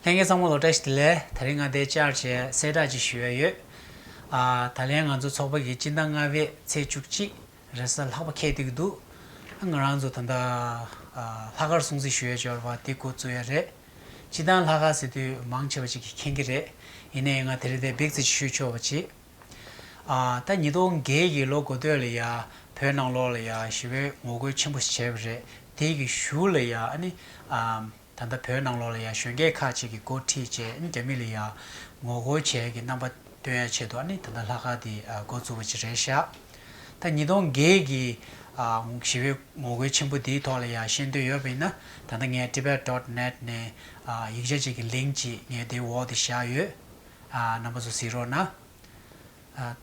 ལྷན་རྒྱས་གཙང་པོ་ལོ་བཀྲ་ཤིས་བདེ་ལེགས་ད་རིང་ང་དེ་བཅར་བྱས་གསལ་བསྒྲགས་གཅིག་ཞུ་ཡས་ཡོད་ཨ་ད་ལན་ང་ཚོ་ཚོགས་པ་གི་སྤྱི་ཟླ་ལྔ་བའི་ཚེས་བཅུ་གཅིག་རེས་གཟའ་ལྷག་པ་ཁེལ་ཏེ་གི་འདུག་ཨ་ང་རང་ཚོ་ད་ལྟ་ལྷག་དཀར་སྲུང་བརྩི་ཞུ་ཡས་འབྱོར་བ་དེ་དགོ་བཙུགས་ཡས་རེད་སྤྱི་དང་ལྷག་དཀར་ཟེར་དུས་མང་ཆེ་བ་ཅིག་གིས་མཁྱེན་གི་རེད་ཡིན་ནའི་ཡང་ང་དེ་རེ་ལྡེ་འབེག་རྩིས་ཅིག་ཞུས་ཆོག་བ་ཅིག། ད་ཉིས་སྟོང་བརྒྱད་ཀྱི་ལོ་འགོ་སྟོད་ལ་ཡ་བོད་ནང་ལོགས་ལ་ཡ་ཞི་བའི་ངོ་རྒོལ་ཆེན་པོ་བྱས་པ་རེད་དེ་གི་གཞུག་ལ་ཡ་ནི་ད་ལྟ་བོད་ནང་ལོགས་ལ་ཡ་གཞོན་སྐྱེས་ཁག་ཅིག་གི་འགོ་ཁྲིད་བཅས་ནི་རྒྱ་མི་ལ་ཡ་ངོ་རྒོལ་བྱས་ཀྱི་རྣམ་པ་སྟོན་ཡ་ཆེད་དུ་ནི་ད་ལྟ་ལྷ་ཁང་དེ་འགོ་བཙུགས་པ་ཅིག་རེད་ཤག་ད་ཉིས་སྟོང་བརྒྱད་ཀྱི་ཞི་བའི་ངོ་རྒོལ་ཆེན་པོ་དེའི་ཐོག་ལ་ཡ་ཤེས་འདོད་ཡོད་པ་ཡིན་ན་ད་ལྟ་ངའི tibet dot net ནས་ཡིག་ཆ་ཅིག་གི་ལིང་ཅིག་ངའི་དེའི་འོག་དེ་བཞག་ཡོད། རྣམ་པ་ཚོ་གཟིགས་རོགས་གནང།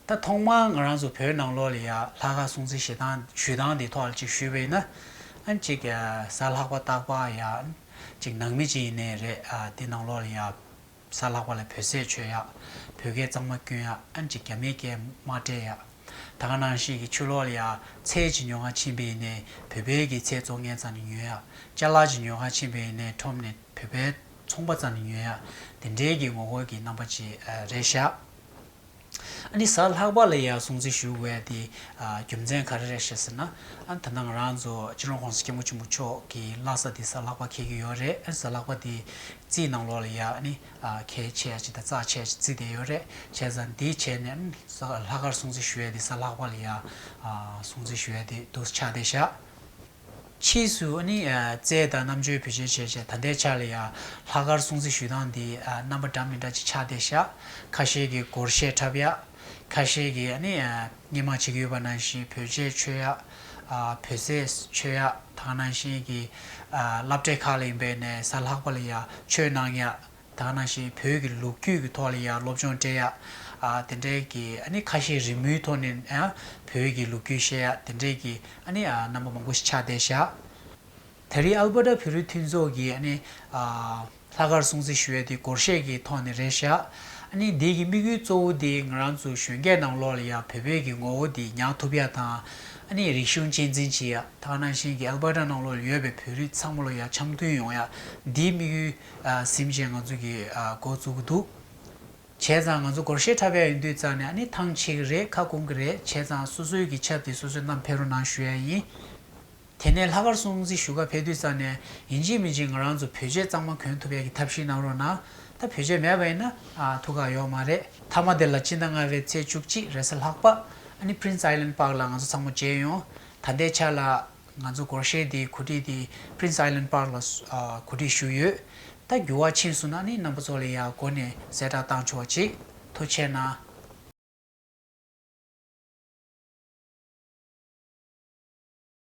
ད་ཐོག་མར་ང་རང་ཚོ་བོད་ནང་ལོགས་ལ་ཡ་ལྷ་ཁ་སྲུང་བརྩི་ཞེ་སྡང་ཞུས་སྟངས་དེ་ཐོག་ལ་ཅིག་ཞུས་པས་ན། གཅིག་གཟའ་ལྷག་པ་སྟག་པ་ཡ། གཅིག་ནང་མི་གཅིག་ཡིན་ནའི་རེད་དེ་ནང་ལོགས་ལ་ཡ། གཟའ་ལྷག་པ་ལ་བོད་ཟས་ཆོས་ཡ། བོད་སྐད་གཙང་མ་སྐྱོན་ཡ་གཅིག་རྒྱ་མིའི་སྐད་དམའ་བཀྲལ་ཡ། ད་ག་ནང་ཞིག་གི་ཆུ་ལོགས་ལ་ཡ་ཚལ་གྱི་ཉོ་ཁང་ཕྱིན་པས་ནས་བོད་པའི་གི་ཚལ་བཙོག་ངན་ཙམ་ནས་ཉོས་ཡ། ལྕགས་ལག་གྱི་ཉོ་ཁང་ཕྱིན་པས་ནས་ཁྲོམ་ནས་བོད་པའི། ཚོང་པ་ཙམ་ནི་ཉོན་ཡ། དེ་འབྲེལ་གྱི་ངོ་རྒོལ་གྱི་རྣམ་པ་ཅི་རེད་བཞག། ཨ་ནི་ཟ་ལྷག་པ་ལ་ཡང་སྲུང་བརྩི་ཞུ་བའི་དེ་རྒྱུ་མཚན་ག་རེ་རེད་བཤད་ཟེར་ན། ཨ་ད་ནང་ང་རང་ཚོ་སྤྱི་ལོ་གོང་ས་སྐྱབས་མགོན་ཆེན་པོ་མཆོག་གི་ལྷ་ས་དེ་ཟ་ལྷག་པ་ཁེལ་གྱི་ཡོད་རེད་ཨ་ནི་ཟ་ལྷག་པ་དེ་རྩིས་གནང་ལོག་ལ་ཡ་ཨ་ནི་ཁེལ་ཆེ་ཡ་ཅིག་དང་བཙག་ཆེ་ཡ་ཅིག་རྩིས་བསྡད་ཡོད་རེད་བྱས་ཙང་དེ་བྱས་ནས་ཨ་ནི་ཟ་ལྷག་ཁར་སྲུང་བརྩི་ཞུ་བའི་དེ་ཟ་ལྷག་པ་ལ་ཡ་སྲུང་བརྩི་ཞུ་བའི་དེ་འདུག་ཆ་དེ་བཞག། ཕྱིས་སུ་ནི་རྩལ་དང་རྣམ་དཔྱོད་བུ་ཆེ་བྱས་བྱས་ད་ལྟའི་ཆར་ལ་ཡང་ལྷག་དཀར་སྲུང་བརྩི་ཞུས་སྟངས་འདི་རྣམ་པ་འདྲ་མི་འདྲ་ཅིག་ཆགས་བསྡད་ཤག་ཁ་ཤས་ཀྱིས་སྒོར་གཞས་འཁྲབ་ཡག་ཁ་ཤས་ཀྱིས་ནི་སྙན་མ་ཅིག་ཡོད་པ་ནང་བཞིན་བོད་ཆས་མཆོད་ཡག་བོད་ཟས་མཆོད་ཡག་དང་ནང་བཞིན་གྱི་བསླབ་གྲྭའི་ཁག་ལ་ཡིན་པས་ནས་ས་ལྷག་པ་ལ་ཡང་མཆོད་གནང་ཡག། དག་ན་ཞེས་བོད་ཀྱི་ལུགས་རྒྱུད་ཀྱི་ཐོག་ལ་ཡང་སློབ་སྦྱོང་སྤྲད་ཡག་དེ་འདྲའི་གི་ཨ་ནི་ཁ་ཤས་རི་མོའི་ཐོག་ནས་བོད་ཀྱི་ལུགས་རྒྱུད་ཤེས་ཡག་དེ་འདྲའི་གི་ཨ་ནི་རྣམ་པ་མང་པོ་ཞིག་ཆགས་བསྡད་ཤག་ད་རི་ཨལ་པར་ཏ་བོད་རིགས་མཐུན་ཚོགས་ཀྱི་ཨ་ནི་ལྷ་ཁར་སྲུང་བརྩི་ཞུ་ཡག་དེ་སྒོར་གཞས་ཀྱི་ཐོག་ནས་རེད་ཤག་ཨ་ནི་འདི་གི་དམིགས་ཡུལ་གཙོ་བོ་དེ་ང་རང་ཚོ་གཞོན་སྐྱེས་ནང་ལོགས་ལ་ཡང་བོད་བོད་ཀྱི་ངོ་བོ་དེ་ཉག་ཐུབ་ཡག་དང་ཨ་ནི་རིག་གཞུང་གཅེས་འཛིན་བྱེད་ཡག་དག་ན་ཞེན་གྱི་ཨལ་པར་ཏ་ནང་ལོགས་ལ་ཡོད་པའི་བོད་རིགས་ཚང་མ་ལོ་ཡག་འཆམ་མཐུན་ཡོང་ཡག་འདི་དམིགས་ཡུལ། གཟིམ་ཞེས་ང་ཚོ་གིས་འགོ་བཙུགས་ཀྱི་འདུག་བྱས་ཙང་ང་ཚོ་སྒོར་གཞས་འཁྲབ་ཡ་ཡིན་དུས་ཙང་ནས་ནི་ཐང་ཆད་ཀྱི་རེད་ཁ་སྐོང་གི་རེད་བྱས་ཙང་སོ་སོའི་གི་ཆབ་དེ་སོ་སོའི་གནམ་འཕེལ་རོ་ནང་ཞུ་ཡ་ཡིན། དེ་ནས་ལྷ་ཁར་སྲུང་བརྩི་ཞུ་ག་ཕེབས་དུས་ཙང་ནས་ཡིན་གཅིག་མིན་གཅིག་ང་རང་ཚོ་བོད་གཞས་གཙང་མ་གོན་ཐུབ་ཡ་གི་ཐབས་ཤིག་གནང་རོགས་གནང་ད་བོད་གཞས་མེད་པ་ཡིན་ན་ཐུགས་ཁག་ཡོག་མ་རེད། མཐའ་མ་དེ་ལ་སྤྱི་ཟླ་ལྔ་བའི་ཚེས་བཅུ་གཅིག་རེས་གཟའ་ལྷག་པ་ནི Prince Island Park ལ་ང་ཚོ་ཚང་མ་མཇལ་ཡོང་ད་ལྟའི་ཆ་ལ་ང་ཚོ་སྒོར་གཞས་འདིའི་གོ་སྒྲིག་འདི Prince Island Park ལ་གོ་སྒྲིག་ཞུས་ཡོད། ད་འགྱུར་བ་ཕྱིན་སོང་ན་ནི་རྣམ་པ་ཚོ་ལ་ཡང་སྒོ་ནས་གསལ་བསྒྲགས་བཏང་ཆོག་གཅིག་ཐུ་ཆེ་ན།